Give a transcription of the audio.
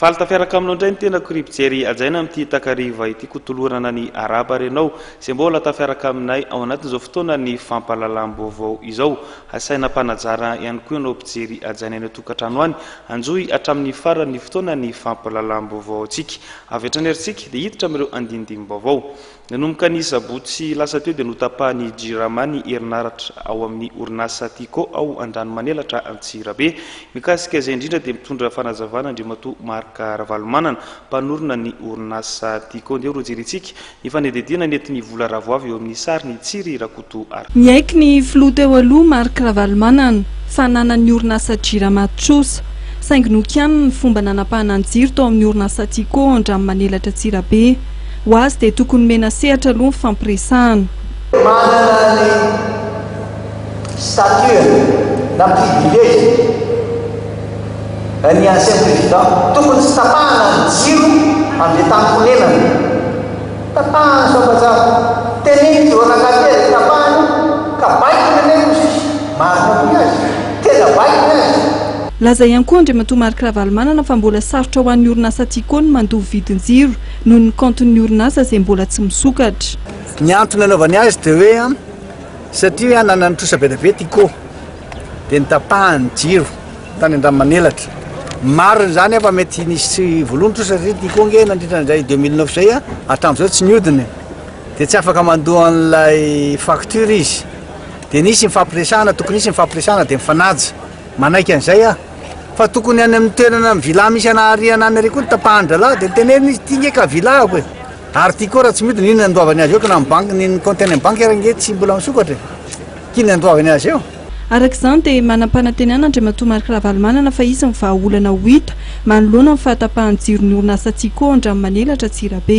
Faly tafiaraka aminao indray ny tenako ry mpijery hajaina amin'ity takariva ity ko tolorana ny araba ary ianao izay mbola tafiaraka aminay ao anatin'izao fotoana ny fampahalalam-baovao izao. Asaina mpanajara ihany koa ianao mpijery hajaina any an-tokantrano any. Anjohy hatramin'ny faran'ny fotoana ny fampahalalam-baovaontsika. Avy hatrany ary isika dia hiditra amin'ireo andinindimim-baovao. Nanomboka ny sabotsy lasa teo dia notapahan'i Jirama ny herinaratra ao amin'ny orinasa Tiko ao Andranomanelatra Antsirabe. Mikasika izay indrindra dia mitondra fanazavana Andriamatoa Marc Ravalomanana, mpanorina ny orinasa Tiko. Andeha ho rojerentsika Efa niadiadiana ny eton'ny vola ravoavy eo amin'ny sariny i Tsiry Rakoto Arthur. Niaiky ny filoha teo aloha Marc Ravalomanana fa nanan'ny orinasa Jirama trosa, saingy nokianiny ny fomba nanapahana ny jiro tao amin'ny orinasa Tiko Andranomanelatra Antsirabe. Ho azy dia tokony nomena sehatra aloha ny fampiresahana. Manana ny statut na privilege ny ancien président tokony tsy tapahana ny jiro amle tankonenana tapahana sambajambo teneno tsy voanakate azy tapahana ka baikony anie no sisa marina koa ny azy tena baikony azy Laza ihany koa Andriamatoa Marc Ravalomanana fa mbola sarotra ho an'ny orinasa Tiko ny mandoa vidin-jiro noho ny kaontin'ny orinasa izay mbola tsy misokatra. Ny antony nanaovany azy dia hoe. Satria nanan'ny trosa be dia be ity ko dia nitapahany ny jiro tany Andramanelatra. Marina izany fa mety nisy voaloha ny trosa satria ity ko nge nandritra izay 2009 izay hatramin'izao tsy niodina e. Dia tsy afaka mandoa an'ilay facture izy. Dia nisy ny fampiresahana, tokony hisy ny fampiresahana dia mifanaja. Manaiky an'izay aho. Fa tokony any amin'ny toerana ny villa misy anà Riana any ary koa ny tapahan-drahalahy dia tenenina izy ity nge ka villa-ko e. Ary ty koa raha tsy midina inona andoavany azy eo kna mibanky ny ny compte any am banky ary ange tsy mbola misokatra e! k'inona andoavany azy eo? Araka izany dia manam-panantenana Andriamatoa Marc Ravalomanana fa hisy ny vahaolana ho hita manoloana ny fahatapahan'ny jiron'ny orinasa Tsiko ao Andranomanelatra Antsirabe.